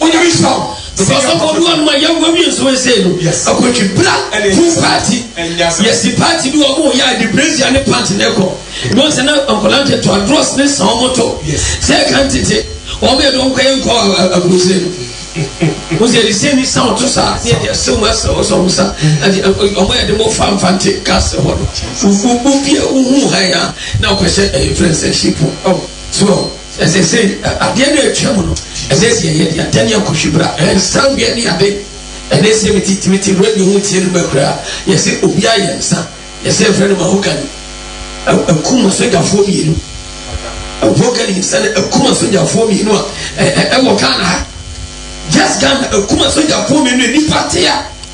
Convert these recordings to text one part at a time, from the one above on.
Ɔnya nhyira o. Because ɔkɔ bi wɔn mu a yɛn wɔn yɛ nsuo nsɛn no. Akɔtwi bra hu party. Yɛsi party bi wɔn yɛ a de brazier ne pant na ɛkɔ. Wɔn sɛ na nkɔla nkyɛn to adros ne san wɔn to. Sɛ ɛka ntete wɔn yɛ dɔn kɔyɛ nkɔ aburusire no. Wɔn sɛ ɛdi sɛ ni san wɔn to saa ne ɛdi ɛsɛ wɔn ɛsɛ wɔn sɛ wɔn sa ɛdi wɔn yɛ de mo fa nfa nte kaase hɔ no. Obi a ohun ha ya na ɔkɔhyɛ ɛyɛ fɛnsɛ ship. So. Na seesei, adeɛ no retwa mu no, ɛsɛ sɛ yɛyɛ deɛ ntɛne a kɔhwi bra, nsa nweɛ ne ade. Ɛnnɛ sɛ mete tumi te radio ho tie noma kura a, yɛse obi ayɛ nsa, yɛse mfrɛ no mahogany. Akum asogyafoɔ mmienu, mahogany nsa no akum asogyafoɔ mmienu a ɛwɔ Ghana ha. Just Ghana akum asogyafoɔ mmienu a nnipa te a.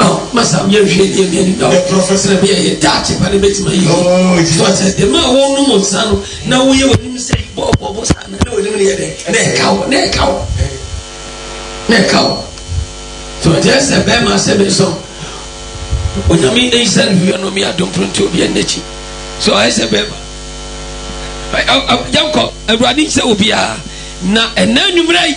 Oh, masa mi nhwɛ deɛ mi ani da o. Professor bi a yɛ daakye pa ne bɛ tuma yi. Oh, Jesus. Sɔsɛ deɛ maa wɔn nom nsa no na wɔn yɛ wɔn anim sɛ bɔ bɔ bɔ saa na wɔn anim no yɛ dɛ na ɛka o na ɛka o na ɛka o. Sɔsɛ sɛ bɛɛ ma sɛ mi sɔn. Onyame eyi sɛ ne wia no mi adum pronto obi ɛn n'akyi. So ɔyɛ sɛ bɛɛ ma. Jankɔ, awurade sɛ obiara na ɛnna nwummerɛ yi.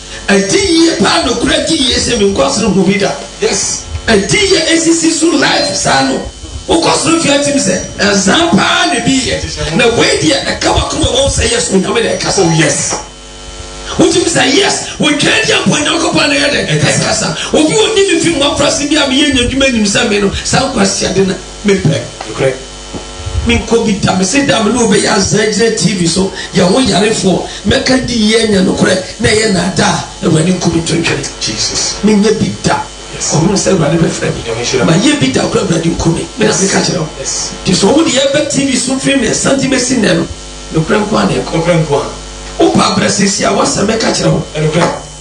Ɛdi yie paa nokorɛ gye yie sɛ menkɔ soro hu bi da yes ɛdi yie ɛsisi so live saa no wokɔ soro hwɛ atim sɛ ɛnsaa paa na ɛbi yɛ na wei deɛ ɛka wakoma wɔm sɛ yes onyame na ɛkasa oh yes wotumi sɛ yes wotwaa di ampɔ nyankopɔn na yɛ dɛ ɛkasa obi ɔni me fi mmɔfra se bi a meyɛ nya adwuma nim sɛ me no saa nkwasiade na mepɛ Menkɔ bi da. Mese da a me ne wo bɛyɛ azaa agyina TV so, yɛn ho yarefoɔ, mɛka ne di yie anya nokorɛ na ɛyɛ nnaadaa a, Awurade nku me ntontwene. Menyɛ bi da. Kɔhunu sɛ Awurade bɛfrɛ me. Mayɛ bi da koraa a, Awurade nku me. Me na meka kyerɛ wo. Nti sɛ wɔde yɛn ba TV so firi mmiɛnsa de bɛsi nnɛ no, nokorɛ nko ara na ɛkɔ. Wopɛ abrɛ seesei a, w'asɛm mɛka kyerɛ wo.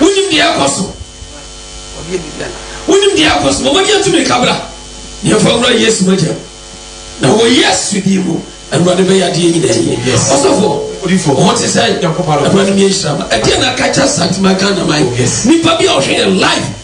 Wonim deɛ ɛrekɔ so. Wonim deɛ ɛrekɔ so. Wɔn deɛ tumi kabra. Yɛmfa wura Yesu mogya mu. Na wɔ Yesu din mu, Awurade bɛyɛ adeɛ nyinaa yie. Ɔsɔfo, wɔn te sɛ Awurade mi nhyira ma. Ɛdeɛ na kakyɛ Satima Ghana man. Nipa bi a ɔhwɛ yɛ live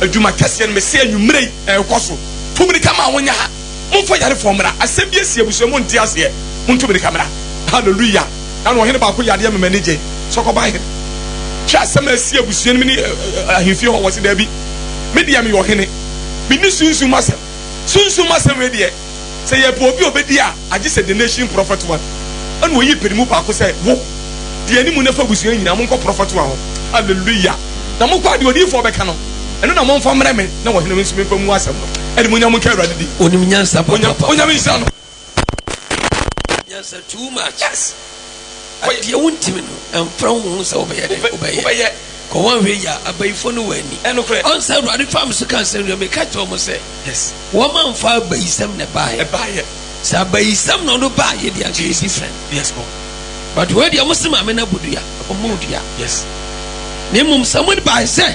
Adwuma kɛseɛ no mese anwummerɛ yi ɛrekɔ so. Tu mmirika ma wɔnyɛ ha. Momfa yarefoɔ mmra. Asɛm bi asi abusua mu nte aseɛ. Montu mmirika mmra. Hallelujah. Na no ɔhene baako yadeɛ mema ani gye. Sɛ ɔkɔba he. Hwɛ asɛm a asi abusua no mu ne ahemfie hɔ. Wɔse daabi. Me deɛ meyɛ ɔhene. Menni sunsum mu asɛm. Sunsum mu asɛm wei deɛ. Sɛ yɛpɛ obi a obedi a, agye sɛ the nation prɔfɛt one. Ɛna oyii panimu baako sɛ, Wo, di anim na fa abusua nyinaa, monkɔ prɔfɛt one hɔ. Hallelujah! Na monkɔ a deɛ odiyifoɔ bɛka no, ɛno na momfa mmrɛ me, na ɔhene no nso memfa mmu asɛm no. Animuonyam nka Awurade din. Onim nyansa papaapa. Onyame nhyira no. Onim nyansa too much. Yes. Kɔ deɛ wontimi no mfra wo ho sɛ wobɛyɛ dɛn wobɛyɛ. Kɔ wɔn hwɛ yie a abayifo no wɔ ani. Ɔn sɛ awurade faa me so ka nsɛm wia meka kyerɛ wɔn sɛ wɔn amfa abayisɛm na ɛbaayɛ sɛ abayisɛm na ɔno baayɛ deɛ anka yɛ different but wei deɛ ɔmo se maame no abɔ dua ɔmo dua na mmom sɛ ɔmo baayɛ sɛ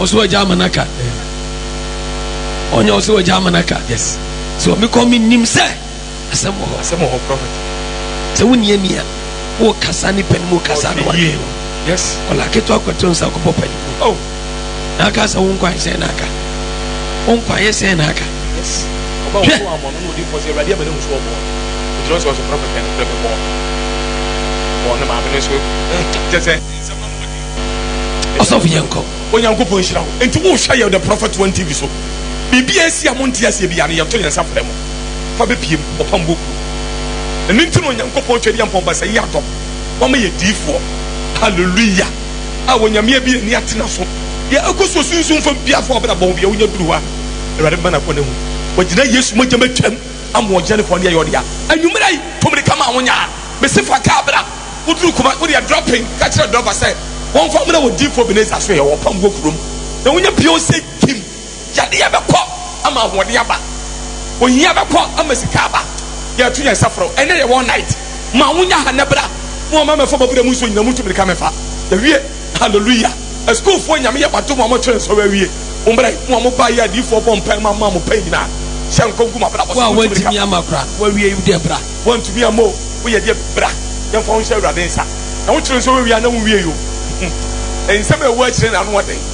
ɔsɛ wagya ama no aka ɔnyɛ ɔsɛ wagya ama no aka sɛ ɔmekɔ menim sɛ asɛm wɔ hɔ sɛ wonni ani a wokasa ne pɛ no mu kasa no wadwen ɔla ketewa kɔto nsa kɔbɔ pani oh. na aka sɛ wo nkwa sɛn na aka wo nkwa yɛ sɛn na aka hwɛ ɔsɔfo yɛ nkɔ onyankopɔn nhyira wo nti wohwɛ yɛ the prophet one tv so biribi a ɛsi a monte aseɛ bi a no yɛto yɛn nsa frɛ mo fa bɛpiem ɔpam bɔ kuro ɛno nti no onyankopɔn twɛdeɛ mpɔn basa yi adɔm wama yɛ diifoɔ hallelujah a onyame ebi ani atena so deɛ ɛkɔ so sunsun fam biafo ɔbɛda bɔn bia wonya duru hɔ a awurade mma nakɔ no ahu wagyina yesu mogya matwam ama ɔgyina ne kɔn deɛ yɛ ɔdea anwummerɛ yi tomde ka ma wonya mese fa kaa bra woduru kuma wode adura pen ka kyerɛ drɔba sɛ wɔmfa mmerɛ wɔ difoɔ beneza so yɛ wɔpam wɔ kurom na wonya pio sɛ kim Yadeɛ bɛkɔ ama ahoɔden aba. Ohia bɛkɔ ama sika aba. Yɛtu yɛn nsa frɛ wo. Ɛnɛ yɛ wɔ night. Ma wo nya ha nɛ bra. Mo a mo amɛfa mo abura mu nsuo nyina mo ntu mirika mɛfa. Yɛwie. Hallelujah. Asukuufoɔ nyame yɛ mo adom a mo atwerɛ nsɔre awie. Mo mmra yi. Mo a mo ba yɛ adiyifoɔ bɔ mpae ma mo a mo pɛ nyina. Hyɛ nkɔm gu mo abrabɔ so. Wo a wantumi ama kora na wawie yi wo deɛ bra. Wantumi ama o wo yɛ deɛ bra. Yɛn fa wo nhyɛ Awurade nsa. Na wo kyerɛ nso wawie a na wo nwie yi o. Nsɛm a ɛwɔ akyire na ano ɔden.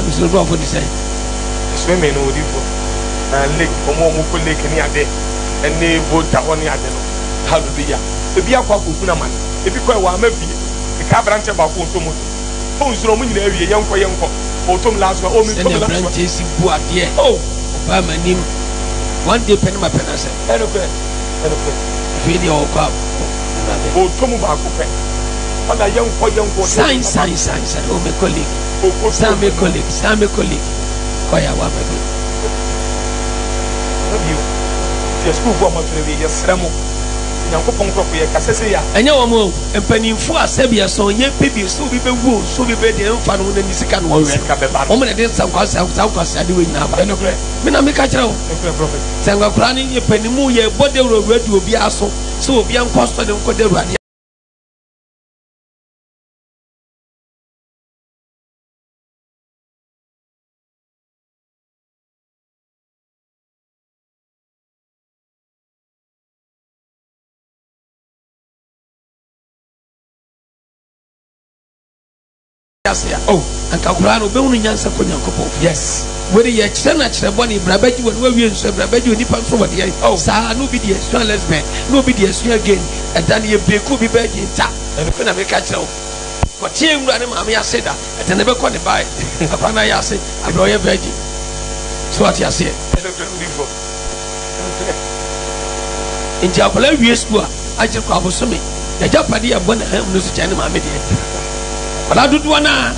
Abusua nkurɔfo te sɛn? Swimming no wodi fo na lake wɔn a wɔkɔ lake ne ade ɛne volta hɔ ne ade no halo bi ya ebi akɔ akɔ hunu amane ebi kɔ ɛwɔ ama fie eka abranteɛ baako ɔtɔ moto oh nsoro wɔn nyinaa wie yɛnkɔ yɛnkɔ ɔtɔ mu last one oh mentɔ mu last one sɛnea abranteɛ si bu adeɛ oh ɔbaa m'anim one day pɛ ne ma pɛ no asɛ ɛnokorɛ ɛnokorɛ afei deɛ ɔkɔ a ɔtɔ mu baako pɛ ɔna yɛnkɔ yɛnkɔ san san san san oh mekɔ lake Samekolik, Samekolik kɔ yɛ awa ma bi. Ɛnyɛ bio. Nti yɛ sukuufoɔ a moatwerɛ awie, yɛsrɛ mo, sɛ Nyankopɔn nkurɔfoɔ, yɛka sɛ sei a. Ɛnyɛ wɔn o, mpaninfoɔ a sɛdeɛ sɛ ɔnyɛ pɛ bi, sɛ obi bɛwu o, sɛ obi bɛyɛ deɛ ɛmfa ne ho na ne sika na ɔwɛ no, wɔn na ɛde saa nkwaseadeɛ wei nyinaa ba. Ɛyɛ nokorɛ. Me na meka kyerɛ wo. Nokorɛ Prɔfɛt. Sɛ nkwakoraa no yɛ panin mu, yɛbɔ dawuro wura di obiara so, sɛ obiara nkɔ asɔre nkɔda awurade ase. ase a oh anka koraa no obɛhunu nyansa kɔ nyankopɔn yes wede yɛ kyerɛ na kyerɛ bɔne bra bɛgye wɔ ne wawie nso bra bɛgye onipa nso wɔ deɛ oh saa na obi deɛ sua lesbian na obi deɛ sua gay ɛda no yɛbie kɔ obi bɛgye nta ɛno pɛ na meka kyerɛ wo kɔteɛ nwura ne maame ase da ɛtɛ ne bɛkɔ ne bae akora na ayɛ ase abrɛ ɔyɛ virgin so ate aseɛ nti akwadaa wie sukuu a akyere kɔ abosome yɛgya pade yɛ bɔ ne ha mu no so kyɛn ne maame deɛ akwadaa dodoɔ no a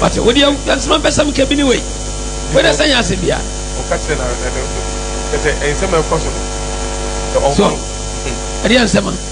wate wodeɛ nsoma bɛsɛm ka bi ne wei wode sɛ nyɛ ase bia ɛdeɛ nsɛma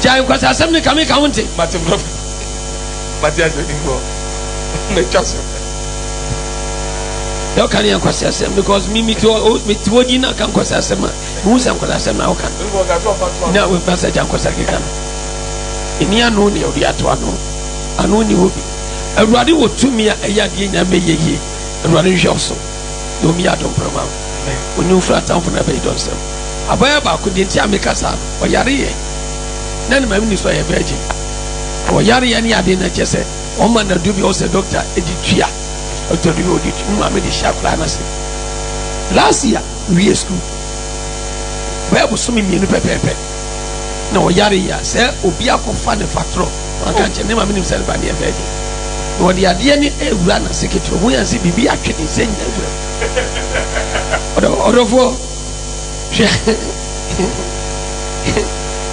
gyae nkwasasɛm ne kame ka wo nte mate brɔfo mate asɛ nkorɔ matwa so na ɔka ne yɛ nkwasasɛm because me mete hɔ din na aka nkwasasɛm a mehu sɛ nkwasasɛm na woka no na woba sɛ gya nkwasa keka no ɛni ano ne ɔde ato ano ano ni hɔ bi awurade wɔ tumi a ɛyɛ adeɛ nyame yɛ yie awurade nhwɛ so Dɔm yi adɔ mprama. Wɔn mfiri atamfo na ɛbɛyɛ dɔ nsam. Abɔeɛ baako, deɛ nti a meka saa no, ɔyareeɛ, na ne maame nim sɛ ɔyɛ virgin. Ɔyareeɛ ne adeɛ no ɛkyɛ sɛ wɔma no aduro bi a ɛwɔ sɛ dɔkta de tua. Dɔkta bi ɔde tua, ne maame de hyɛ akwadaa no ase. Last year, mewie sukuu, bɛyɛ bosome mmienu pɛpɛɛpɛ. na ɔyare yi a, sɛ obi akɔfa ne fatorɔ na waka nkyɛn ne maame nim sɛ ne ba ne yɛ bɛɛgye na ɔde adeɛ ne ɛwura na seketoro ho yɛn sɛ biribi atwe ne nsɛ nyina wura ɔdɔfoɔ hwɛ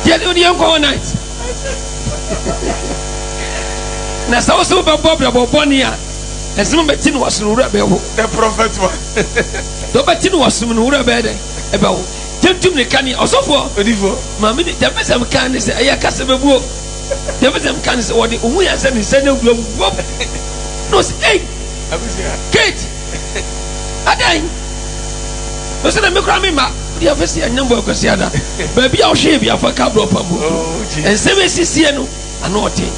yɛde ɔde yɛn kɔ night na sɛ wo sɛ wobɛbɔ brɛbɔ bɔne a ɛsɛm bɛti no wasono wura bɛwo the prophet one dɔbɛti no wasom no wura bɛɛ dɛ ɛbɛwo Tentem ne kane ɔsɔfoɔ. Odifoɔ. Maame ni tɛmɛsɛm kan ne sɛ ɛyɛ kasa bɛbuo. Tɛmɛsɛm kan ne sɛ wɔde ɔhu yɛn sɛ ne nsa ne awura mu bɔm. Na ɔsɛ ei. Abusua. Kate. Adan. Na ɔsɛ na me koraa me mma. Wode afɛ si anyambɔ akwasiada. Baabi a ɔhwee bi afa ka brɔ pambo. Oh, Jesus. Nsɛm ɛsisie no. Ano ɔden.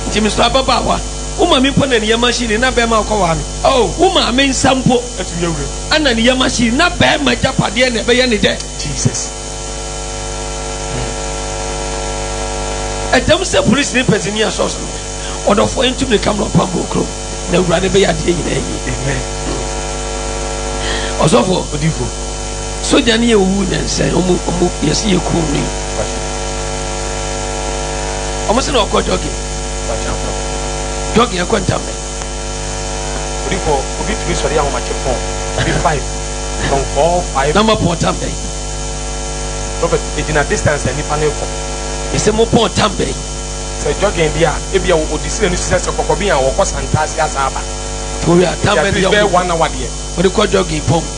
Nti me sɔ ababaawa. Wo maame mpo na ne yam ahye ni na bɛɛma ɔkɔwaa no. Oh, wo maame nsa mpo na ne yam ahye ni na bɛɛma agyapadeɛ na ɛbɛyɛ ne dɛ. Jesus. Ɛdam sɛ polisi ne pɛsi ni asɔs no. Ɔdɔfoɔ yɛn tum ne kam na ɔpam bɔ okuro na awurade bɛyɛ adeɛ nyinaa yie. Amen. Ɔsɔfoɔ. Odifo. Sogya no yɛ owu nnansa yi, ɔmo ɔmo yɛsi yɛ kurom no yi. Ɔmo sɛ na ɔkɔ jogging. Jogging ɛkɔ ntam bɛn? Obi kɔ obi tumi sɔre ahomakye pɔn obi five from four five. Na mo pɔn tam bɛn? Prophet egyina distance a nipa no kɔ. Yɛsɛ mo pɔn tam bɛn? Sɛ jogging deɛ a ebi a ɔdi sini no sisɛ sɛ kɔkɔbi a wɔkɔ santaase asa aba. Towi a tam bɛn deɛ ɔmo de kɔ jogging pɔn.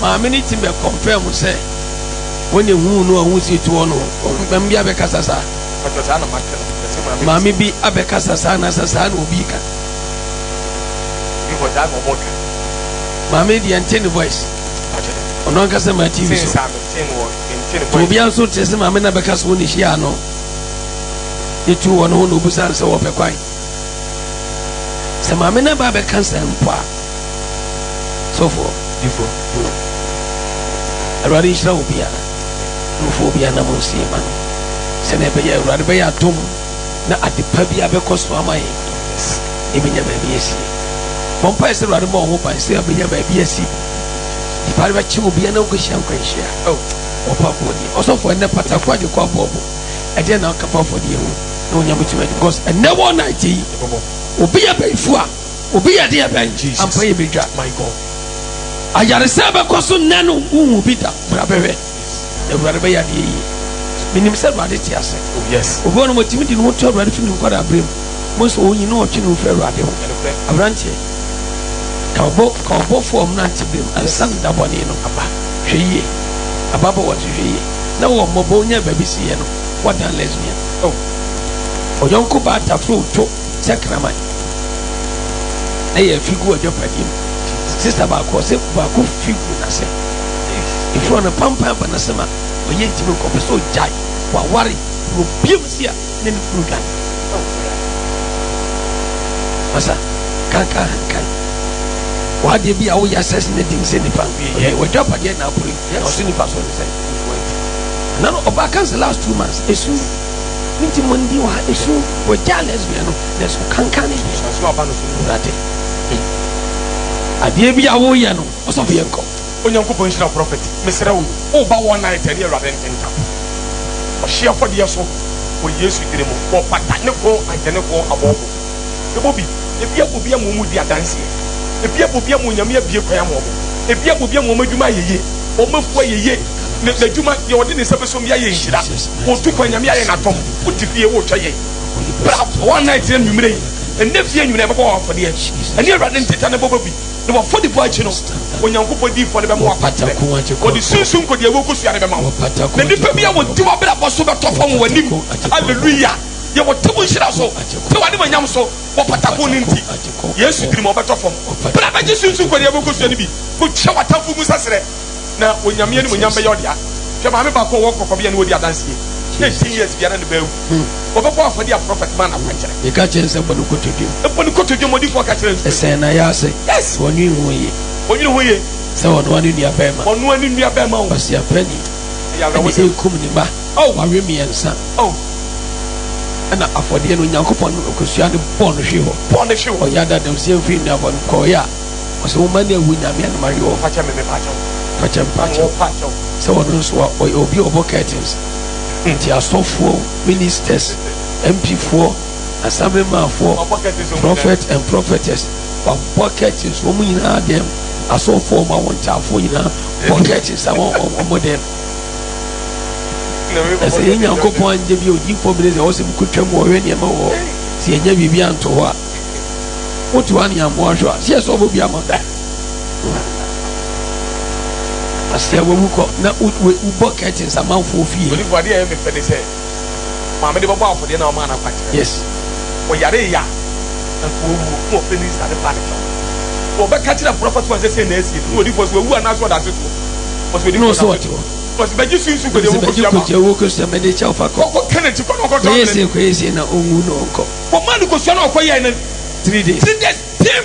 Maame no tsim bɛ kɔnfɛɛ mo sɛ hɔn na huu no a hom si to hɔ no hɔ. Maame bi abɛkasa saa? Mpakyɛw saa na makã no, mese maame no tsim. Maame bi abɛkasa saa anaasɛ saa na obi rekã? Bi hɔ dza na wɔrekã. Maame no deɛ yɛnntee ne voice. Mpakyɛw. Ɔno ankasa maa TV so. Since a metsee no wɔ menntee ne voice. So obiara nso nntse se maame no abɛka se hɔn na hyiaa no, ne tuu hɔn ho na obusaa no sɛ wɔpɛ kwan. sɛ maame no ba bɛka sɛ mpo a sɔfoɔ difoɔ hmm. awurade nhyira wo bia nofoɔ bia na mo nsie ma no sɛnea ɛbɛyɛ awurade bɛyɛ atom na adepa bi abɛkɔ so ama yɛ ɛbɛnya baabi asi bɔmpae sɛ awurade ma ɔho ban sɛ ɛbɛnya baabi asi nipa no bɛkye wo bia na wokɔhyia nkwanhyia ɔpa boɔ deɛ ɔsɔfoɔ ɛnɛ pata kɔ agye kɔ abɔɔbo ɛdeɛ na ɔka fa afɔdeɛ ho na wɔnya bɛtumi adi because ɛnɛ wɔ na ɛte yi obi yɛ bɛyifu a obi yɛ deɛ bɛn ampa yɛ bɛdwa ayaresɛ bɛkɔ so nnɛ no wohu bi da bra bɛhwɛ na awurade bɛyɛ adeɛ yie menim sɛ awurade te ase oh, obi ɔnom ɔtumi di ne ho to awurade fi ne nkɔda berɛ mu mo nso ɔnyi ne ɔtwe ne ho firi awurade ho aberanteɛ ka ɔbɔ ka ɔbɔfoɔ ɔmnante berɛ mu ansa no da bɔne no aba hwɛ yie ababɔ wɔte hwɛ yie na wɔn mmɔbɔ onyaa baabi siiɛ no, wɔadan lesbian. Oh, ɔyɔnko baa tafrow to sɛ kraman, na yɛn fi gu adwapadeɛ mu. Sista baako, ɔse baako fi gu n'ase. Efirɔ no pampan aba n'ase ma ɔyɛ ntimi nkɔ, ɔpɛ sɛ ɔgyae, waware, na obue mu se a ne ne kunu dwane. Oh, masa, kankan hankan. W'adeɛ bi a woyɛ asɛs ne den sɛ nipa, ɔyɛ w'adwapadeɛ na akore. Yɛ ɔso nipa so ne sɛ nkoa nti. Ana no ɔbaa kansa last two months esu ne nti mo ndi wɔ ha esu wɔ gya lesbian no na ɛso kankan ne deɛ ɔso aba no so no wura te eh adeɛ bi a woyɛ no ɔsɔfo yɛ nkɔ. Onyankopɔn nhyira wo prophet mesrɛ wo wo ba wɔ night ɛne awurade ntentam ɔhyeɛ afɔdeɛ so wɔ yesu dini mu wɔ pata ne kɔn agye ne kɔn abɔɔbo. Yɛbɔ bi, ebi abɔ bi ama wɔn redi adanseɛ, ebi abɔ bi ama Onyame abue kwan ama wɔn, ebi abɔ bi ama wɔn adwuma ayɛ yie, wɔn afuo ayɛ yie, n'adwuma deɛ ɔde ne nsa bɛsom bi ayɛ nhyira, ɔtu kwan Nyame ayɛ n'adom, wote fie woretwa yɛn. Bra one night na anwumerɛ yi, ɛnɛ fie anwumerɛ yɛbɛbɔ wɔn afɔdeɛ, ɛne Awurade nteta no bɔbɔ bi, na w'afɔdibɔ akyi no, Onyankopɔn diifoɔ no bɛma wo akwankyerɛ, ɔde sunsum nkodeɛ a ɛwɔ kosua no bɛma wo, na nnipa bi a wɔdi w'abrabɔ so bɛtɔ fam wɔ w'anim, Hallelujah. deɛ wɔte wo nhyira so te wade manyam so wɔ patako no nti yesu diri ma ɔbɛtɔ fam berɛ a bɛgye sunsu kɔde abɛkɔsua no bi kɔtwa watamfo mu saserɛ na onyame ne monyam bɛyɛ ɔdea hwɛ maame baako ɔwɔ kɔkɔbea ne wɔdi adanseɛ na 10 years biara ne baawu wɔbɛbɔ afɔde a prɔfɛt ma na kwankyerɛ meka kyerɛ nsɛ bɔ no kotodwom bɔ no kotodwom ɔdifoɔ ka kyerɛ nsu ɛsɛn na yɛ ase yes wɔnwe ho ye wɔnwe ho ye sɛ ɔnoa ne nua bɛrima ɔnoa ne nua bɛrima wo ɔsiapani ɛne ɛkum ne ma Oh, awe mmiɛnsa, oh, ɛna afɔdeɛ no Onyankopɔn kosua no bɔ no hwe hɔ. Bɔ no hwe hɔ. Ɔyɛ adadamsie mfiri nnuabɔ no kɔɔeɛ a, ɔsɛ wo mma no awu Nyame anom awe wɔn. Fakyɛ me, me pakyɛ wo. Fakyɛ me, pakyɛ wo. Pakyɛ wo. Sɛ ɔno nso a, ɔyɛ obi a ɔbɔ curtains. Nti asɔfoɔ, ministers, MP foɔ, Assembly man foɔ, prophet and prophetess, wabɔ curtains wɔn nyinaa dɛm, asɔfoɔ wɔn awontaafoɔ nyinaa bɔ curtains a wɔn wɔn dɛm. Na sɛ yɛn Nyankopɔn annyɛ bi a odiyifoɔ mmene sɛ ɔsem ko twam ɔhwɛ nneɛma wɔ hɔ sɛ yɛnnya biribi anto hɔ a, woto ha na yɛammɔ ahwɛ a, sɛ yɛsɔɔ bɔ bi ama da. Na sɛ wawu kɔ na wobɔ curtains amanfoɔ fie. Maame de bɛbɔ afɔdeɛ na ɔmaa no akwankyerɛ. Yes. Ɔyaree yɛ a, anka ɔwuo, na ɔpɛ ne nsa ne paa ne kyɛw. Ɔbɛka kyerɛ aporɔfo aso ansɛ sei na asie no, na ɔdi fɔ so wawu anaa so ɔda ase soɔ. Ɔse ɔdi fɔ so ɔte hɔ. Ɔse bɛgye so nsu kɔgya wuo kɔsua ma. Kɔgya wuo kɔsua ma de kyɛw fa kɔ. Kɔ kɛ n'akyi kɔ na ɔkɔ tɔ amena bi. Kɔyɛ sei kɔyɛ sei na ɔnwu na ɔnkɔ. Ɔmaa no kɔsua na ɔkɔ yɛɛ no. Three days. Three days, tim!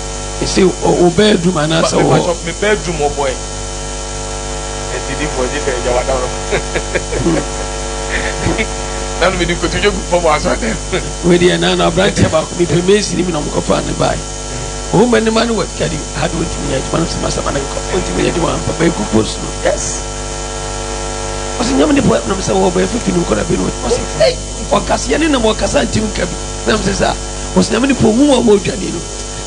Ese o o bedroom anaasɛ wɔ hɔ. Mepakyɛ me bedroom wɔ bɔɛ. Ɛdidifo ɛgye sɛ ɛgya wada no. Nanu mi di kotu dwe gu fam wɔ asɔre dan mu. Wei deɛ nanu abranteɛ baako mi pɛ mesi ni mi na ɔmo kɔ faa ne bae. Ɔwɔ mu anim ano wɔ kadi ha de ɔntumi yɛ adwuma no sama sama ne nkɔ ɔntumi yɛ adwuma ampa bɛɛ gu post no yes. Ɔsi nyam ne bɔɛ nam sɛ wɔ bɛɛ fifi ne nkɔ na bi no ɔsi hey ɔkaseɛ ne nam ɔkasa ntumi nka bi nam sɛ saa. Wɔsi na me nipa ohun wɔn wɔ dwani no.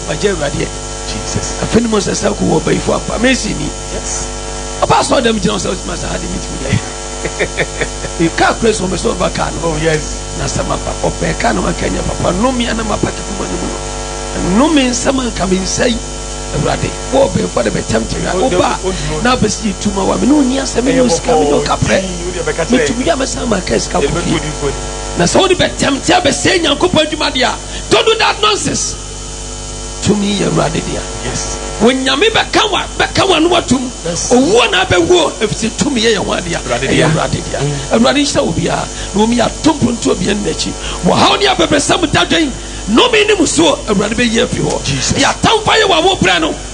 Magye awurade adi. Jesus. Afei ne mo nsa sa ko wɔ bayifo apa. Mesi ni. Yes. Ɔba asɔ dɛm gyina ɔsɛ ɔtuma sa ha de mi tumi yɛ. Kaa kura so ɔmɛsɛ ɔba kaa no. Oh yes. Na sɛ ma ba ɔbɛn kaa no anka nyɛ papa nnome ana ma paki kuma ne mu no. Nnome nsɛm anka me nsa yi. Awurade wɔ ɔbɛn fo de bɛtɛm te ya. Ɔba na abɛsi yɛ tuma wa me ne ɔni asɛ me ne ɔsika me ne ɔkaprɛ. Me tumi ya mɛsan ma kaa sika kofie. Na sɛ wode bɛtɛmte abɛsɛe Nyankopɔn adwuma deɛ a, don't do that nonsense. Tumi yɛ Awurade dea. Yes. Onyame bɛka wa bɛka w'ano atom. Yes. Owuo na abɛwuo efisɛ tumi yɛ yɛ ho adea. Awurade dea. Ɛyɛ Awurade dea. Mm. Awurade nhyira obiara na wɔn yɛ ato mpontuo bia ne n'akyi. Wɔhaw ne abɛbrɛsɛm dadwen nnome ne mu soɔ Awurade bɛyi afi hɔ. Jesus. Deɛ atamfo ayɛ wɔ awobrɛ no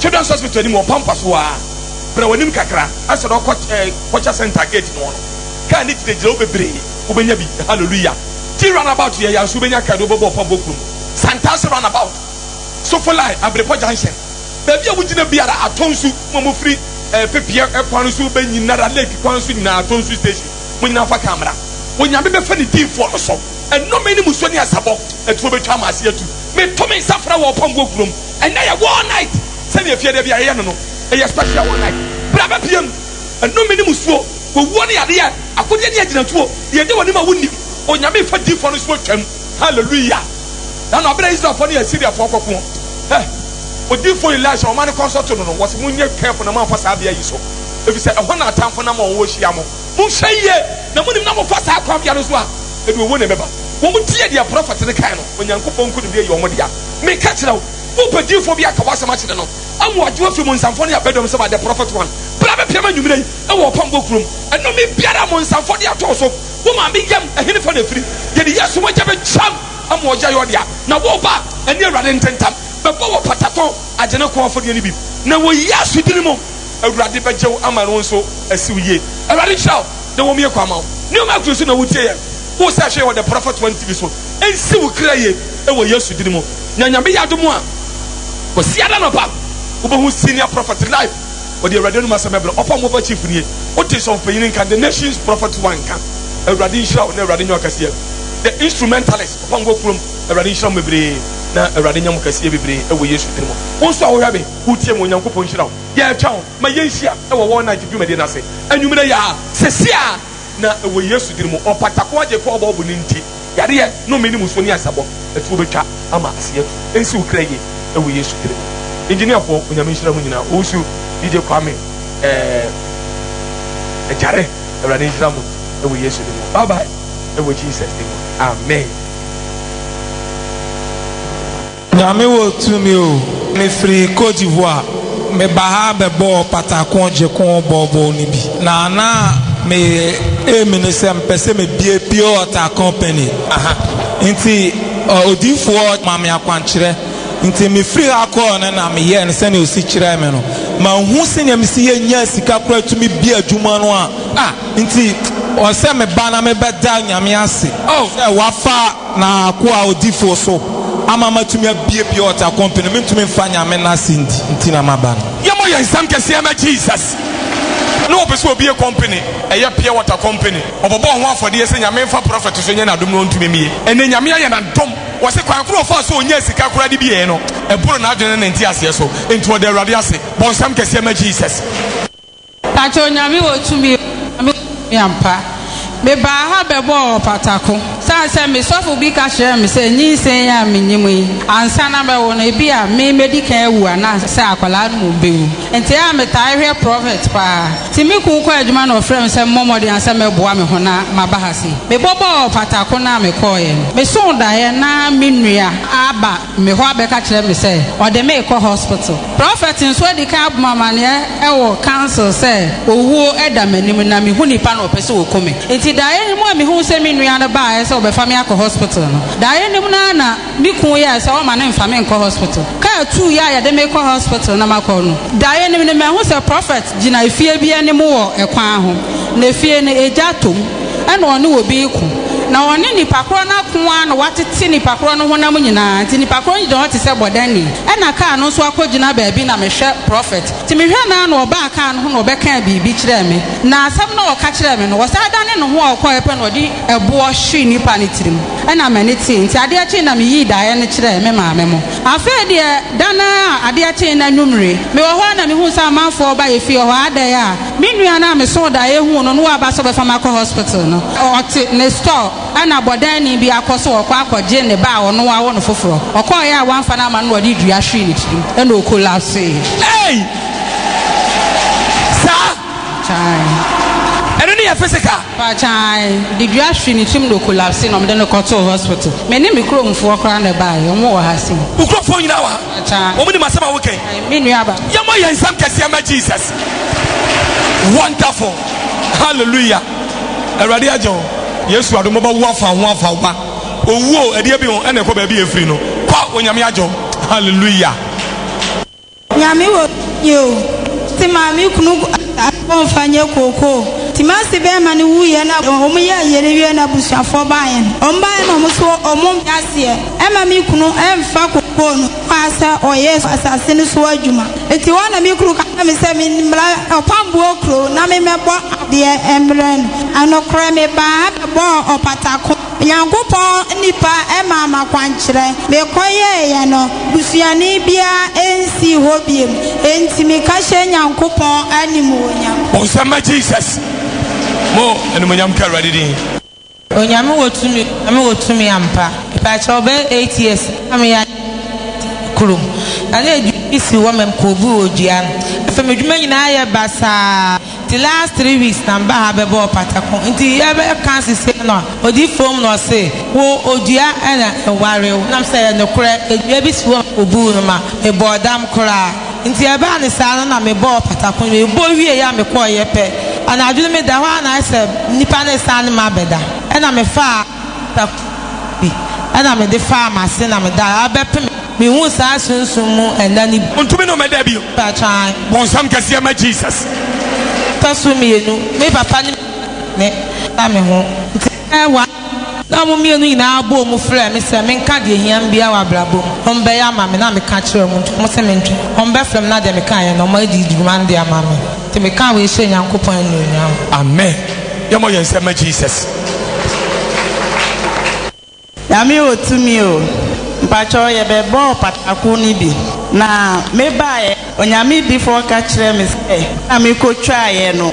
Children's Hospital anim wɔ Pampa so aa. Bra w'anim kakra ansa na ɔkɔ eh, culture center gate no hɔ no. Kaa no gyina gyina hɔ bebree, wobɛnya bi, hallelujah. Ti runabout yɛ ya nso wobɛnya kaa bi wobɛbɔ wɔ Pampo kuro mu. Santase runabout, Sofo line, Abirepɔ junction, baabi a wogyina biara atɔ nsu, mo a mofiri eh, Pepeɛ eh, kwan no so ba nyinara, lake kwan nso nyinaa atɔ nsu station, mo nyinaa fa kaa mmra. Onyame bɛfa ne diifoɔ no so, ɛnome ne musuo ne asabɔ, aturo bɛtwa ama ase atu. Meto me nsa frɛ wɔ Pampo kuro mu. Ɛnɛ yɛ war night sɛnea efie da bi a yɛyɛ no no yɛ special war night bere a bɛpia mu nnome ne musuo owuo ne yadeɛ akodeɛ ne agyinatuo deɛ ɛdi wɔnim a wonni Onyame fa diifoɔ no so atwam hallelujah na no abere a Israelfoɔ ne Asiriafoɔ rekɔko eh odiifoɔ Elisha wɔma no kɔnsɔto no no wɔse monyɛ careful na moamfa saa bea yi so ɛfiri sɛ ɛhɔ na atamfo nam a wɔwɔ hyia mo. Monhwɛ yie na monim na mofa saa kwan biara so a, ɛde owuo na ɛbɛba. Wɔtie deɛ prɔfɛt no kae no, Onyankopɔn nkonimdie yɛ wɔn dea. Meka kyerɛ wo, wopɛ diyifoɔ bi aka w'asɛm akyerɛ no ama wagye wo afiri monsamfoɔ ne abadwam sɛ ma The Prophet One bra bɛpiam anwummerɛ yi wɔ Ɔpɔnkɔ kurom. Ɛnome biara a monsamfoɔ de ato wo so, wo maame yam, ɛhenefa na ɛfiri? Yɛde Yesu mogya bɛtwam ama ɔyɛ yɛ ɔdea. Na wo ba, ɛne Awurade ntentam, bɛbɔ wɔ patato, agye ne kɔn afɔdeɛ no bi, na wɔ Yesu dini mu. Awurade bɛgye wo ama no wo nso asi wo yie. Awurade nhyira wo na wɔmmue kwan ma wo. Nneɛma a ɛkɔ so na wotie yɛn wo sɛ hwɛ yɛn wɔ The Prophet One TV so. Ɛnsi wo kra yie wɔ Yesu din mu. Na Nyame yɛ adom a, Kwasiada anɔpa wobɛhu Senior Prophet live. Ɔde Awurade anom asɛm bɛbrɛ. Ɔfa Mofa Chief nie. Wote Sɔfopanyin nka, The Nations Prophet One nka. Awurade nhyira wo na Awurade nyɛ wo kɛseɛ. The Instrumentalist, Ɔfa Ngo Kurom, Awurade nhyira mo bebree na Awurade nyɛ mo kɛseɛ bebree wɔ Yesu din mu. Wo nso a wohwɛ me. wotie ma Onyankopɔn nhyira wo. Yɛretwɛn wo ma yɛnhyia wɔ War Night dwumadi no ase anwummere yi ara. Sɛsi ara na wɔ Yesu din mu, Ɔpata ko agye kɔ ɔbɔɔbo no nti, yareɛ, nnome ne musuo ne ayasabɔ atuo bɛtwa ama ase atu. Ɛnsi wo kra yie wɔ Yesu din mu. Engineerfoɔ, Onyame nhyira mo nyinaa. Owusu, DJ Kwame, eh, Agyare, Awurade nhyira mo wɔ Yesu din mu. Bye bye wɔ Jesus din mu. Amen. Nyame wɔ tumi o, me firi Côte d'Ivoire, me ba ha bɛ bɔɔ pata ko gye ko bɔɔ bɔɔl no bi, na na me aim ne sɛ me pɛ sɛ me bie pure water company, aha nti odiyifoɔ ma me akwankyerɛ, nti me firi ha kɔɔ no na me yɛɛ no sɛnea ɔsi kyerɛɛ me no, ma nhu sɛnea me si yɛ nya sika koraa tumi bie adwuma no a, ah nti ɔsɛ me ba na me bɛ da Nyame ase, oh sɛ wafa. Na akoa ɔdifo so, ama matumi abiebie ɔtakɔmpe no, mentumi mfa Nyame no ase ndi nti na maba no. Yɛmɔ yɛn nsam kɛseɛ ma Jesus. Na ɔpɛ sɛ ɔbie kɔmpene, ɛyɛ pure water kɔmpene. Ɔbɔbɔɔ ho afɔdeɛ sɛ Nyame mfa prɔfɛt so nyɛ n'adom na ɔntumi mmie. Ɛnnɛ Nyame ayɛ no adom. Ɔse kwan koro a ɔfaa so ɔnyaa sika koraa de bieeɛ no, ɛboro n'adwene ne ne nteaseɛ so. Enti ɔda Awurade ase. Bɔ nsam kɛseɛ ma Jesus. Pakyɛw Nyame wɔ tumi o Nyame wɔ tumi ampa Mebaa ha bɛbɔɔ ɔpatako Sane sɛ me sɔfo bi ka kyerɛɛ me sɛ Nyinsɛn yi a menyim yi ansa na mɛwo no Ebia me mɛdi kan awu anaa sɛ akwadaa no mmom bɛwu Nti a metaa hwɛ prophet paa Nti me kun kɔ adwuma na ɔfrɛɛ me sɛ memmɔ mmɔden a sɛ mɛboa me ho na maba ha sei Mebɔbɔɔ ɔpatako no a mekɔeɛ no Mesoo daeɛ na me nua aba me hɔ abɛka kyerɛ me sɛ ɔde me rekɔ hospital. Prɔfɛt nso adi kan abɔ me amanneɛ wɔ council sɛ owuo da m'anim na mehu nnipa na wɔpɛ sɛ wɔku me. Enti daeɛ no mu a mehuu sɛ me nua no baeɛ sɛ ɔbɛfa me akɔ hospital no, daeɛ no mu no ara na me kunu yɛɛ sɛ ɔremma no mfa me nkɔ hospital. Kaa tuu yɛ a yɛde me rekɔ hospital na makɔ no, daeɛ no mu no mahu sɛ prɔfɛt gyina efie bi anim wɔ kwan ho, na efie no, egya atɔ mu. ɛna ɔne obi reko, na ɔne nnipa korɔ no ako ara na watete nnipa korɔ no honam nyinaa, nti nnipa korɔ no gyina hɔ te sɛ bɔdani, ɛna kaa no nso akɔgyina baabi na mehwɛ prɔfɛt, nti mehwɛ no ara na ɔbaa kaa no ho na ɔbɛkaa biribi kyerɛɛ me, na asɛm no a ɔka kyerɛɛ me no, ɔsan dane ne ho a ɔkɔeɛ pɛ na ɔde ɛboɔ hwee nnipa no tirim, ɛna m'ani tee, nti adeɛ kyee na meyii daeɛ no kyerɛɛ me maame mo. Afei deɛ, da no ara a adeɛ kyee no anwummere, mewɔ hɔ ara na mehuu sɛ amanfoɔ reba yɛfie hɔ, adɛn a? Me nua no a mesoo daeɛ huu no na waba sɛ ɔbɛfa me akɔ hospital no, ɔte ne store ɛna bɔdaani bi akɔ sɛ ɔkɔ akɔgye ne ba a ɔno wawo no foforɔ. Ɔkɔeɛ a wamfa no ama no na ɔde dua hwee ne tirim ɛna ɔkolapsee. Ei! Saa? Kyae. Ɛno ne yɛ physical? Pa kyae. Ɔde dua hwee ne tirim na ɔkolapsee na wɔde no kɔtoo hospital. Me ne me kuromfoɔ koraa na ɛbaeɛ. Wɔn wɔ ha sei. Wo kuromfoɔ nyinaa wɔ ha? Pa kyae. Wɔn nim asɛm a woka yi? Me nua ba. Yɛmmɔ yɛn nsam kɛseɛ mma Jesus. Wonderful hallelujah awurade agye wo yesu adom bɛba wo afa ho afa wo ba owuo ɛdeɛ bi ho ɛna ɛkɔ baabi efiri no kɔ onyame agye wo hallelujah. Nyame wɔ tumi o te maame kunu asɛm nfa nyɛ kooko te mase bɛrima no wuyɛ na wɔn yɛ ayere wie na abusuafoɔ baeɛ no wɔn baeɛ na wɔn so wɔn mpe aseɛ ɛma me kunu ɛnfa kooko no maa sɛ ɔnyɛ asase no so adwuma. Enti hɔ na me kunu ka kyerɛɛ me sɛ memmra Ɔpamboɔ kuro na memmɛbɔ adeɛ mmrɛ no. Nokorɛ mebaa ha bɛbɔɔ ɔpatako. Onyankopɔn nnipa maa m'akwankyerɛ. Mekɔyɛeɛ no, busuani biara nsii hɔ bio. Enti meka hyɛ Nyankopɔn animuonyam. Monsa mma Jesus mo animuonyam nka Awurade din. Onyame wɔ tumi onyame wɔ tumi ampa mepaakyɛ ɔbɛyɛ eight years na meyɛ adeɛ te kurom na ne adwuma bi si hɔ ma mekɔɔ bu wɔ dua no afei me dwuma nyinaa ayɛ basaa nti last three weeks na meba ha bɛbɔ ɔpata ko nti yɛbɛ ka sesei no a ɔdi fom na ɔse wo odua ɛna ɛware wo nam sɛ yɛ nokorɛ adua bi si hɔ ma kɔbuu no ma mebɔɔ dam koraa. Nti ɛbaa no saa no na mebɔɔ patako no, mebɔ wieeɛ a mekɔeɛ pɛ, anadwo no meda hɔ ara na ayɛ sɛ nnipa no resane me abɛda, ɛna mefaa patako no bi ɛna mede faa m'ase na meda hɔ ara bɛpem mehuu saa sunsum mu nna no bi. Ontumi ne wo mɛda bio. Mpakyɛw. Bonsam kɛseɛ ma Jesus. Ɛtɔ so mmienu, me papa ne me maame ne me ho. Nti ɛbɛyɛ one. Na wɔn mmienu nyinaa bɔɔ mu frɛɛ me sɛ menka deɛ ɛhia me biara wɔ abrabɔ mu na wɔbɛyɛ ama me, na meka kyerɛɛ wɔn nti wɔn se mentwe wɔn bɛfrɛ me na deɛ mekaeɛ no wɔadi dwuma no de ama me, nti meka wei hyɛ Nyankopɔn anuonyam. Amen yɛmɔ yɛn nsɛm ma Jesus. Nyame wɔ tumi o mpakyɛw yɛbɛbɔɔ pataku no bi na me baeɛ Onyame difoɔ ka kyerɛɛ me sɛ na me kɔ twaeɛ no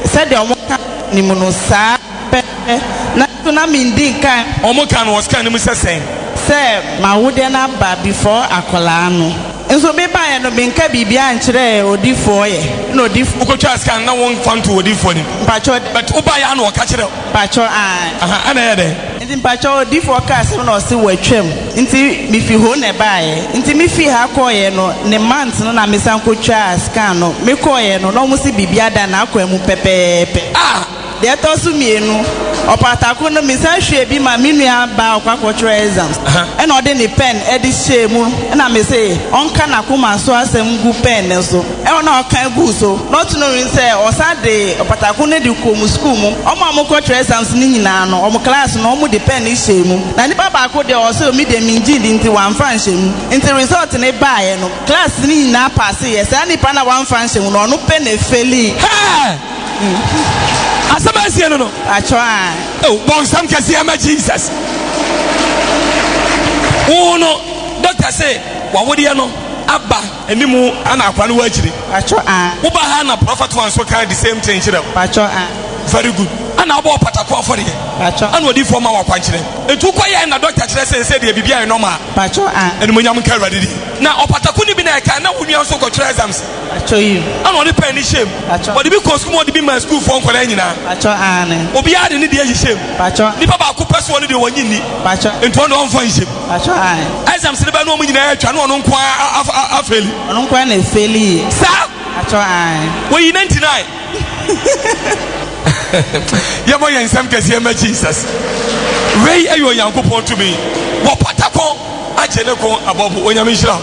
sɛdeɛ ɔmo ka wɔ nim no saa. pɛpɛɛpɛ, nanso na minndi nkan ho. Wɔka no wɔ scan no mu sɛ sɛn? Sɛ m'awodeɛ no aba before akwadaa no. Nso mebaeɛ no menka biribiara nkyerɛɛ odifoɔ yɛ, na odifoɔ. Wokɔtwaa scan no na womfa ntoo odifoɔ anim? Mpakyɛw dɛ. But wobaeɛ a na ɔka kyerɛ wo? Mpakyɛw aane. Ahaa, ɛna ɛyɛ dɛn? Nti mpakyɛw odifoɔ kaa asɛm na ɔse watwam, nti mefi hoo na ɛbaeɛ. Nti mefii ha kɔeɛ no, ne month no na mesan kɔtwaa scan no. Mekɔeɛ no na wɔse biribiara da n'akwaa mu pɛpɛɛpɛ. Ah! Deɛ ɛtɔ so mmienu, ɔpatako no me san hwiee bi maa me nua baa ɔkɔ akɔ twerɛ exams ɛna ɔde ne pen ɛde hyɛɛ mu ɛna me se ɔnka n'akoma so asɛm ngu pen no so ɛna na ɔka guu so not knowing sɛ ɔsan de ɔpatako no de kɔɔ mu school mu ɔmo a ɔmo kɔ twerɛ exams no nyinaa no ɔmo class no ɔmo de pen no hyɛɛ mu na nipa baako deɛ ɔse omi deɛ me ngye ndi nti wamfa nhyɛ mu nti result no baeɛ no class no nyinaa passeeɛ saa nipa no a wamfa nhyɛ mu no ɔno pɛ na ɛfɛlii. Asɛm a ɛsie no no. Atwerɛ a. Oh, bɔ nsɛm kɛseɛ ma Jesus. Wo no, dɔkta se wawodeɛ no aba animu ana akora no wɔ akyiri. Atwerɛ a. Woba ha na prɔfɛt wa nso ka the same thing kyerɛ wo. Atwerɛ a. Very good. Ana wobɔ ɔpatako afɔdeɛ. Atwerɛ. Ana odiifoɔ ma wo akwankyerɛ. Nti wokɔ yɛ na dɔkta kyerɛ sɛ ɛsɛ deɛ biribi ayɛ normal. Atwerɛ a. Animuonyam nka Awurade din. Na ɔpatako no bi na ɛka na wo nua nso kɔtwerɛ exams. Atɔ yim. Ɛna ɔde pɛn no hyɛm. Atɔ. Ɔde bi kɔɔ sukuu mu ɔde bi maa sukuufoɔ nkwadaa nyinaa. Atɔ aane. Obiara de ne deɛ ayi hyɛm. Atɔ. Nipa baako pɛ so ɔne deɛ wɔnye nni. Atɔ. Nti ɔne ɔnfa nhyɛm. Atɔ aane. Exams ne bɛ no ɔmo nyinaa atwa ne ɔno nko ara afeli. Ɔno nko ara na efeli yie. Saa. Atɔ aane. Wɔyi 99. Yɛmɔ yɛn nsɛm kɛseɛ mɛ Jesus. Wei ɛyɛ Onyankopɔn tumi. Wɔpata kɔn agye ne kɔn abɔbo. Onyame nhyira.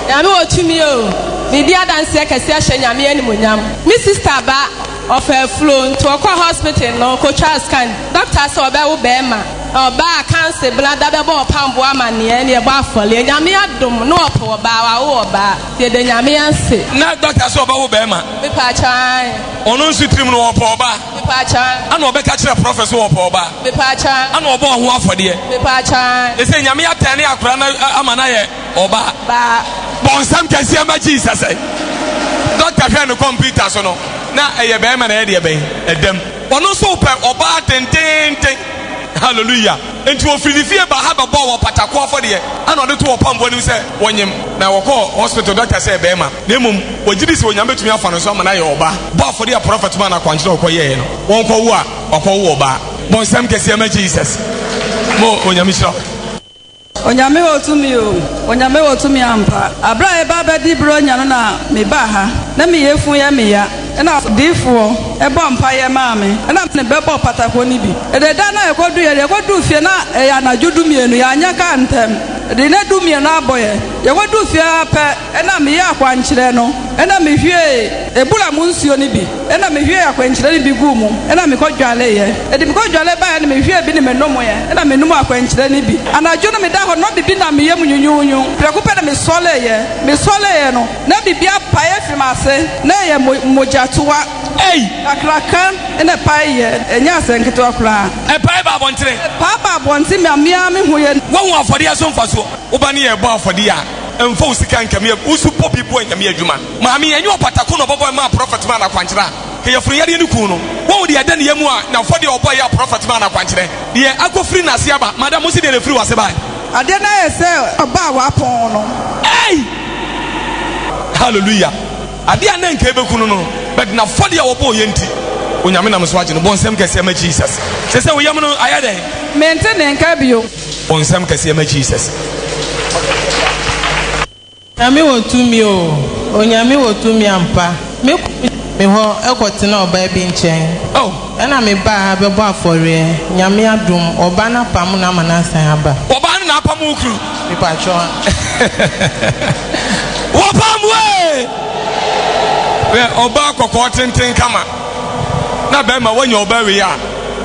Nyame wɔ tumi o, medi adanseɛ kɛseɛ ahyɛ Nyame animuonyam. Me sister ba ɔfa afuro nti ɔkɔɔ hospital no ɔkɔtwaa scan, doctor sɛ ɔbɛwo bɛɛma, ɔbaa kanse blada bɛbɔ ɔpamboɔ amaneɛ na yɛbɔ afɔleɛ, Nyame adom na ɔpoo ɔbaa, wawo ɔbaa, yɛda Nyame ase. Na doctor sɛ ɔbɛwo bɛɛma? Me pakyɛ aane. Ɔno nso tirim no ɔpoo ɔbaa? Me pakyɛ aane. Ana ɔbɛka kyerɛ prophet sɛ ɔpoo ɔbaa? Me pakyɛ aane. Ana ɔbɔɔ ho afɔdeɛ? Me pakyɛ aane. Ɛsɛ Nyame atɛne akora no ama no ayɛ. ɔba bɔnsam kɛseɛ ma jesus ɛ dɔkta hwɛ no kɔmputa so no na ɛyɛ bɛrima na ɛyɛ deɛ bɛn ɛdam ɔno nso wopɛ ɔbaa dendenden hallelujah nti wɔfiri ne fie ba ha bɛbɔɔ wɔ patako afɔdeɛ ana ɔde to wɔ pamboɔ no mu sɛ wɔnyem na wɔkɔɔ hospital dɔkta sɛ bɛrima na mmom wɔgye di sɛ onyame bɛtumi afa no nso ama no ayɛ ɔbaa bɔ afɔdeɛ a prɔfɛt ma no akwankyerɛ ɔkɔyɛɛ no wɔnkɔwo a wakɔwo ɔbaa bɔnsam kɛseɛ ma jesus mo onyame hyira Onyame wɔ tumi o, Onyame wɔ tumi ampa. Aberɛ a yɛba abɛdi Buronya no na me baa ha, na me yefun yɛ me ya, ɛna ɔdiifoɔ bɔ mpaeɛ maa me, ɛna me bɛbɔ patakoɔ no bi. Ɛdɛ da no a yɛkɔduiɛ no, yɛkɔduu fie na ɛyɛ anadwo dumienu, yɛanyɛ kaa ntɛm, ɛde nnɛ dumienu abɔ yɛn. Yɛkɔduu fie ara pɛ, Ɛnna meyɛɛ akwankyerɛ no, ɛnna mihwiee abura mu nsuo no bi, ɛnna mihwiee akwankyerɛ no bi guu mu, ɛnna mekɔdwareeɛ. Ɛde me kɔdware baeɛ no, mehwiee bi na menomeeɛ, ɛnna menom akwankyerɛ no bi. Anadwo no, medaa hɔ no, na biribi nam me yam nwunwunwu. Prɛko pɛ na mesɔreeɛ. Mesɔreeɛ no, na biribi apae afiri m'ase, na ɛyɛ mo, mogyatoa kakraka na ɛpaeeɛ. Ɛnyɛ asɛm ketewa koraa. Ɛpae baa abɔntene. Ɛpae baa abɔntene, ma me ara mehuiɛ. Woahu afɔdeɛ so mfasoɔ? Wo ba no yɛ rebɔ afɔdeɛ a, mfa wo sika nka me wo so bɔ bi boa nyame adwuma maame ɛnyɛ ɔpatako na ɔbɔbɔ ɛma prɔfɛt ma anakwankyerɛ a yɛforo yadeɛ no kuu no wɔn deɛ ɛda ne yɛ mu a na fɔ deɛ ɔbɔ yɛ prɔfɛt ma anakwankyerɛ deɛ akɔfiri n'ase aba madam mo si deɛ na ɛfiri w'ase bae adeɛ no ayɛ sɛ ɔba a wapɔn no ei hallelujah adeɛ a na nka ɛbɛku no no but na fɔ deɛ ɔbɔ yɛ nti onyame nam so agye no bɔ nsɛm kɛseɛ ma jesus sɛ sɛ woyam no ayɛ dɛn mente ne nka bio O nsɛm kɛseɛ ma Jesus. Onyame wɔ tumi o, Onyame wɔ tumi ampa, me kunu gyaa me hɔ kɔ tenaa ɔbaa bi nkyɛn, oh, na me baa ha bɛbɔ afɔreɛ, Nyame adom, ɔbaa no apamo no ama no asan aba. Ɔbaa no na apamo wo kunu? Me patwɔ a. Wɔ pamo ee! Wɛ ɔbaa kɔkɔɔ tenten kama, na bɛrima wanya ɔbaa wei a,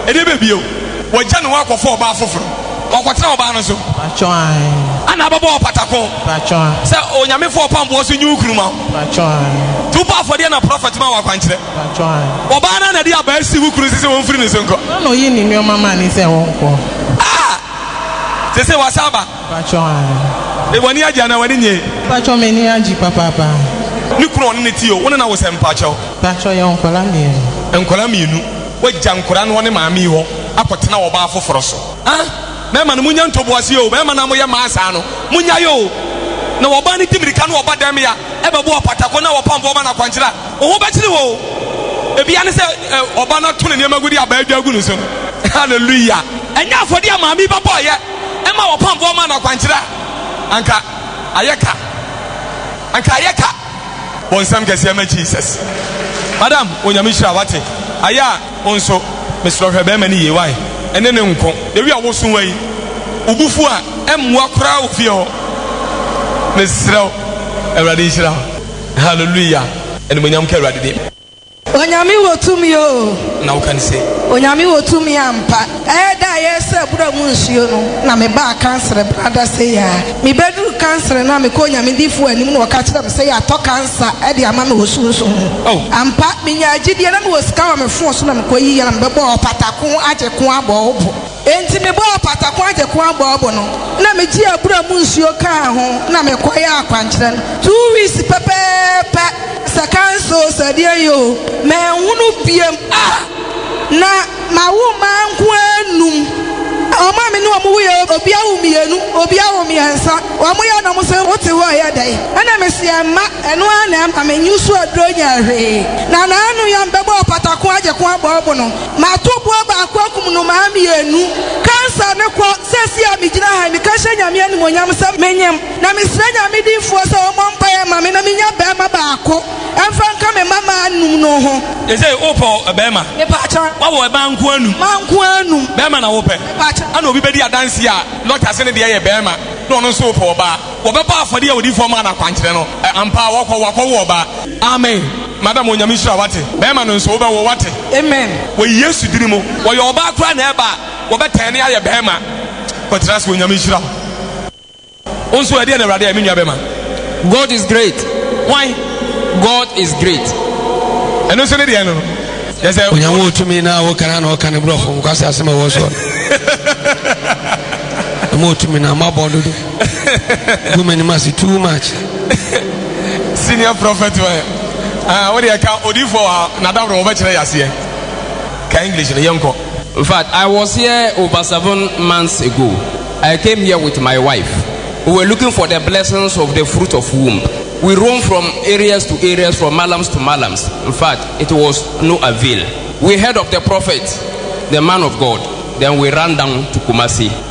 ɛdeɛ bɛbio? Wagya ne ho akɔfa ɔbaa foforo. Ɔkɔtena ɔbaa no so. Mpakyɛw ae. Ana abɛbɔ wo pata ko. Mpakyɛw ae. Sɛ Onyame fa ɔpam boɔ so nyi wo kunu ma wo. Mpakyɛw ae. To bɔ afɔdeɛ na prɔfɛt ma wo akwankyerɛ. Mpakyɛw ae. Ɔbaa no ara na de abaa si wo kunu so sɛ ɔmfiri ne so nkɔ. Hwan na ɔyii ne nneɛma maa no sɛ ɔnkɔ? Ah! Seesei wasan aba. Mpakyɛw ae. W'ani agye anaa w'ani nnye? Mpakyɛw m'ani agye papaapa. Ne kunu a ɔne no te o, wo ne no awo sɛn mpakyɛw? Mpakyɛw yɛwɔ nkwadaa mmienu. Nkwadaa mmienu. Wagya nkwadaa no wɔ ne maame yi hɔ akɔtena ɔbaa foforɔ so. Ah! Mmarima no, monya ntoboaseɛ o, mmarima no a moyɛ mmaa saa no, monyae o. Na ɔbaa no di mmirika na ɔba dan mu yi a, ɛbɛbɔ apɔtakɔ na ɔpam boɔma na akwankyerɛ a, wo ho bɛkyere wo o. Ebia ne sɛ ɔba no ato ne nneɛma agudeɛ a abaa adwa agu ne so no. Hallelujah! Ɛnyɛ afɔdeɛ a maame yi bɛbɔeɛ ma ɔpam boɔma na akwankyerɛ a, anka ayɛ ka. Anka ayɛ ka. Wo nsɛm kɛseɛ ma Jesus. Madam onyame hyira wate ayɛ a wo nso mesrɛ hwɛ bɛɛma no yie wai ɛne ne nko the way a wo so wai wo bo fu a ɛmmoa koraa wɔ fie hɔ mesrɛ wo awurade nhyira wo hallelujah animonyam ka awurade din. Onyame wɔ tumi o. Na woka no se. Onyame wɔ tumi ampa. Ɛyɛ da a yɛresɛ abura mu nsuo no na me baa kansere brada sei a. Me bɛduru kansere no a me kɔ Onyame difoɔ anim na ɔka kyerɛ me sɛ yɛatɔ kansa de ama me wɔ sunsun mu. Oh. Ampa, me nyaa gyidie na me wɔ sika wɔ me fon so na me kɔ yi yɛ na me bɛbɔɔ ɔpata ko agye ko abɔ wo bo. Enti mebɔɔ pataku agyeko aboabo no na megyee abura mu nsuo kaa ho na mekɔyɛɛ akwankyerɛ no. Two weeks pɛpɛɛpɛ, sɛ kanso o, sɛ deɛn yɛ o, manhunu biom. Ah! Na mawo mma nko ara nnum. Wɔn a me ne wɔn woeɛ no, obi awo mmienu, obi awo mmiɛnsa. Wɔyɛ na wɔn se, Wote hɔ a, ɛyɛ dɛn? Ɛna mese, Ɛmma. Ɛno ara na ɛma me nyi so aduro nyɛ hwee. Na n'ano yam bɛbɔɔ pataku agyeko aboabo no. Mato boa baako akum nnomaa mmienu. Cancer no kɔ. Seesei a megyina ha yi, meka hyɛ Nyame animuonyam sɛ menyem, na mesrɛ Nyame dimfoɔ sɛ wɔmmɔ mpaeɛ mma me na menya barima baako mfa nka me mmammaa nnum no ho. Seesei wopɛ barima? Mepaakyɛ? Woawɔ mmaa nkoa nnum? Mmaa nkoa nnum. Barima na wopɛ? Mepaakyɛ? Ɛna obi bɛdi adanseɛ a, doctor se ne deɛ yɛ barima na ɔno nso wopɛ ɔbaa. Wɔbɛbɔ afɔdeɛ a odiyifoɔ maa no akwankyerɛ no. Ɛ, ampa, wɔkɔ, wɔakɔwo ɔbaa. Amen. Madam, Onyame nhyira wo, wate? Bɛɛma no nso, wobɛwo, wate? Amen. Wɔ Yesu dini mu. Wɔyɛ ɔbaa koraa na ɛba a, wɔbɛtɛɛne ayɛ bɛɛma. Kɔtra ase, Onyame nhyira wo. Wo nso ɛ, deɛ na Awurade ayɛ, me nua bɛɛma? God is great. Hwan? God is great. Ɛno nso ne deɛ no no. Yɛ sɛ. Onyame wɔ tumi na wo kana na ɔka ne brɔfo nkwasi asɛm a ɛwɔ soɔ no. Onyame wɔ tumi na mabɔ dodo. Gu m'anim ase too much. Senior prophet wɔ he? Ah, wo deɛ ka odiifoɔ wɔ ha na daworo wɔbɛkyerɛ yɛ aseɛ. Ka English no yɛnkɔ. In fact, I was here over seven months ago. I came here with my wife. We were looking for the blessings of the fruit of womb. We roamed from areas to areas, from malams to malams. In fact, it was no avail. We heard of the prophet, the man of God. Then we ran down to Kumasi.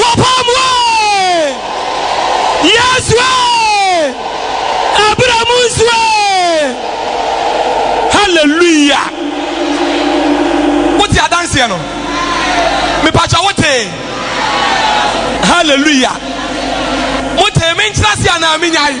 Wɔpam wo ee, Yesu ee, ɛberɛ mu nso ee. Hallelujah. Wote adanseɛ no? Mepakyɛ wote? Hallelujah. Mote me nkyerɛ ase anaa menyae?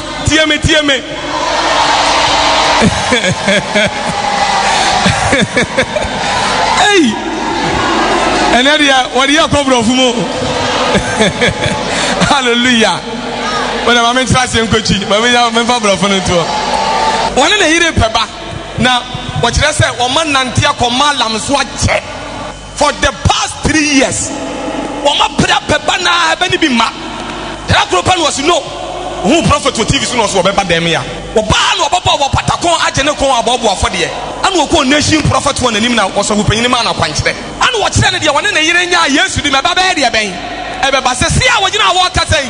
tie me tie me ei ɛnɛ deɛ wɔde yɛ kɔ borɔfo mu hallelujah wɔde ma me ntra aseɛ nkɔkyi ma me nya memfa borɔfo no ntoɔ wɔne ne yere pɛ ba na wɔkyerɛ sɛ wɔma nante akɔ malam so akyɛ for the past three years wɔn apere apɛ ba na ɛbɛ ne bi mma da koro pɛ na wɔsi no ohun prɔfɛt wɔ tv so na ɔso wɔbɛba dɛm ya wɔbaa na wɔbɛbɔ wɔ patakɔn agye ne kɔn abɔɔbo afɔdeɛ ɛna wɔkɔ nation prɔfɛt wɔn anim na wɔsɔfo panyin ma na kwankyerɛ ɛna wɔkyerɛ ne deɛ wɔne ne yere nya yesu di ma ɛba bɛyɛ deɛ bɛn ɛbɛba sɛ si a wɔgyina a wɔkasa yi.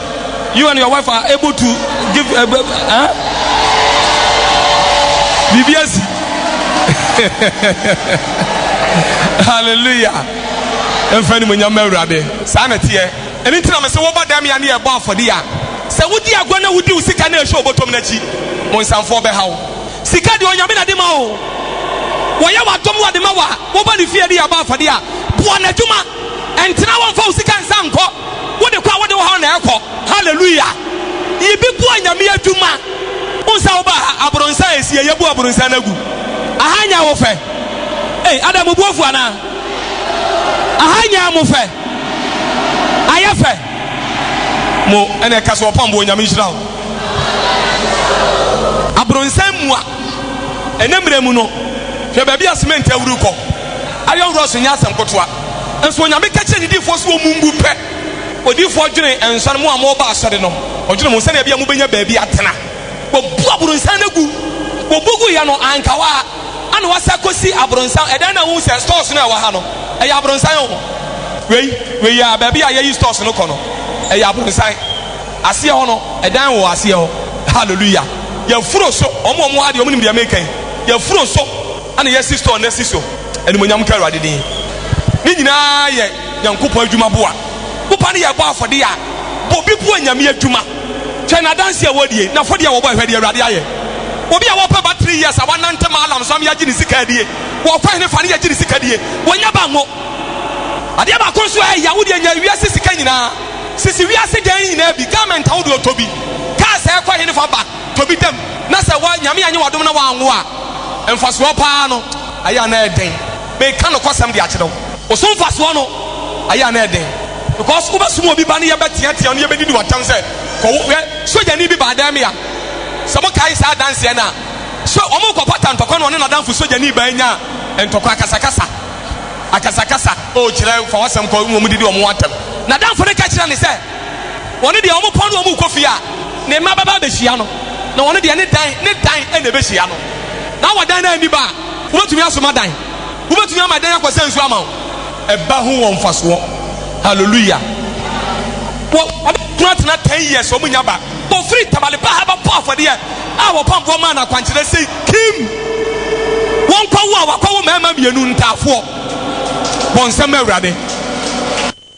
You and your wife are able to give a uh, eh, eh? BBSC. Hallelujah. Mfa ni mo nyama awurade. Saa na teɛ. Ɛno nti na me sɛ wɔba dam ya ne yɛbɔ afɔde ya. Sɛ wodi agua na wodi wo sika na ɛhyɛ ɔbɔtɔm no akyi, mo nsamfoɔ bɛha wo. Sika deɛ ɔnyame na de ma o. Wɔyɛ w'adom wɔ de ma wa. Wɔba ne fie de yɛbɔ afɔde a, boa n'adwuma. Ɛntena hɔ mfa wo sika nsa nkɔ, wode kɔ a wode wo haw na ɛkɔ. Hallelujah! Yi bi boa Nyame adwuma. Wohu sɛ woba ha abronsɛ a ɛsi ɛ yɛbu abronsɛ no agu. Aha nyɛ wo fɛ. Ei adɛn mo bo afu anaa? Aha nyɛ mo fɛ. Ayɛ fɛ. Mo ɛna ɛka sɛ ɔpɔn boɔ Nyame nhyira wo. Abronsɛ mua. Ɛnɛ mmerɛ mu no hwɛ baabi a cement awuru kɔ. Ayɔ wura so nyɛ asɛm kotoa. Nso Onyame ka kyerɛ ne difoɔ sɛ wɔmmu ngu pɛ. Odiyifoɔ dwene nsɔre, mo a moɔba asɔre no, ɔdwene mo sɛdeɛ ɛbɛyɛ mobɛnya baabi atena. Wɔbu abronsan no gu. Wɔbu gu yɛ no anka hɔ ara, ɛna wɔasa kɔsi abronsan. Ɛdɛn na wohu sɛ stores no a ɛwɔ ha no, ɛyɛ abronsan o. Wei, wei a, baabi a yɛyi stores no kɔ no, ɛyɛ abronsan. Aseɛ hɔ no, ɛdan wɔ aseɛ hɔ. Hallelujah. Yɛafuro so, wɔn a wɔwɔ ha deɛ wɔnim deɛ mereka yi. Yɛafuro so, Ɛna yɛasi store no asi so. Animuonyam nka Awurade din. Ne nyinaa yɛ Nyankopɔn adwuma boa. Woba ne yɛ bɔ afɔdeɛ a, bɔ bi boa Nyame adwuma. Hwɛ n'adanseɛ a wɔdi ei, n'afɔdie a wɔbɔ ei, hwɛ deɛ Awurade ayɛ. Obi a wɔpɛ ba three years a wanante ma alarm so ama yɛagye ne sika adie, wɔkɔ hene fa ne yɛgye ne sika die, wɔnya ba ngo. Adeɛ baako nso a ɛya, wodeɛ nya wiase sika nyinaa, sisi wiase dan nyinaa bi, garment a wode ɔtɔ bi, cars a ɛkɔ hene fa ba, tɔ bi dam na sɛ woa Nyame annye w'adom na woanwo a, mfasoɔ paa no ayɛ a na ɛyɛ den. Meka nokwasɛm de akyerɛ wo, wo so mfasoɔ no ayɛ a na ɛyɛ den because wobɛsom obi ba ne yɛbɛteatea no, yɛbɛdidi wo atɛm sɛ kɔwo. Hwɛ, sogyani bi baa dan me a, sɛ mokae saa adanseɛ no a, so wɔrekɔpata ntɔkwa na ɔne n'adamfo sogyani baa nyaa ntɔkwa, akasakasa, akasakasa, oh kyerɛ, fa w'asɛm kɔ, mmom didi wɔn atɛm. N'adamfo no ka kyerɛɛ no sɛ, Wɔn deɛ wɔn kɔ na wɔn rekɔ fie a, ne mma bɛba abɛhyia no, na wɔn deɛ ne dan ne dan na ɛbɛhyia no. Na wɔ dan no anni ba a, wobɛtumi asoma dan, wobɛtumi ama dan akɔsa nsuo ama wo. Ɛba ho wɔ mfasoɔ. Hallelujah. Wɔ wɔn kunu atena ten years wɔn nya ba. Wɔfiri Tamale paa ha bɛbɔ afɔdeɛ a wɔpamfoɔ maa no akwankyerɛ sei kim. Wɔnkɔ wo a wakɔwo mmarima mmienu ntaafoɔ. Bɔ nsɛm ma Awurade.